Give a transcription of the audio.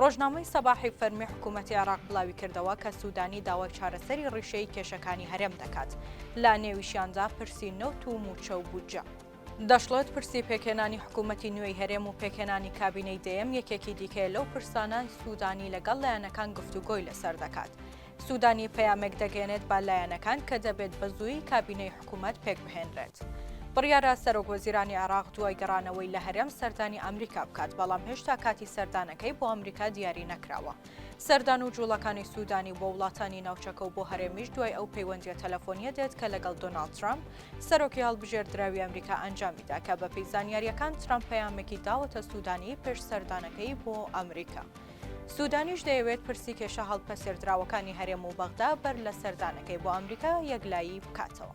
ڕۆژنامەی سەباحی فەرمی حکوومەتی عێراق بڵاویکردەوە کە سوودانی داوای چارەسەری ڕیشەیی کێشەکانی هەرێم دەکات، لە نێویشیاندا پرسی نەوت و مووچە و بودجە. دەشڵێت، پرسی پێکهێنانی حکوومەتی نوێی هەرێم و پێکهێنانی کابینەی دەیەم یەکێکی دیکەیە لەو پرسانە، سوودانی لەگەڵ لایەنەکان گفتوگۆی لەسەر دەکات. سوودانی پەیامێک دەگەیەنێت بە لایەنەکان کە دەبێت بەزوویی کابینەی حکوومەت پێکبهێنرێت. بڕیارە سەرۆکوەزیرانی عێراق دوای گەڕانەوەی لە هەرێم سەردانی ئەمریکا بکات، بەڵام هێشتا کاتی سەردانەکەی بۆ ئەمریکا دیاری نەکراوە. سەردان و جووڵەکانی سوودانی بۆ وڵاتانی ناوچەکە و بۆ هەرێمیش دوای ئەو پەیوەندییە تەلەفۆنییە دێت کە لەگەڵ دۆناڵد ترەمپ، سەرۆکی هەڵبژێردراوی ئەمریکا ئەنجامی دا کە بەپێی زانیارییەکان ترەمپ پەیامێکی داوەتە سوودانی پێش سەردانەکەی بۆ ئەمریکا. سوودانیش دەیەوێت پرسی کێشە هەڵپەسێردراوەکانی هەرێم و بەغدا بەر لە سەردانەکەی بۆ ئەمریکا یەکلایی بکاتەوە.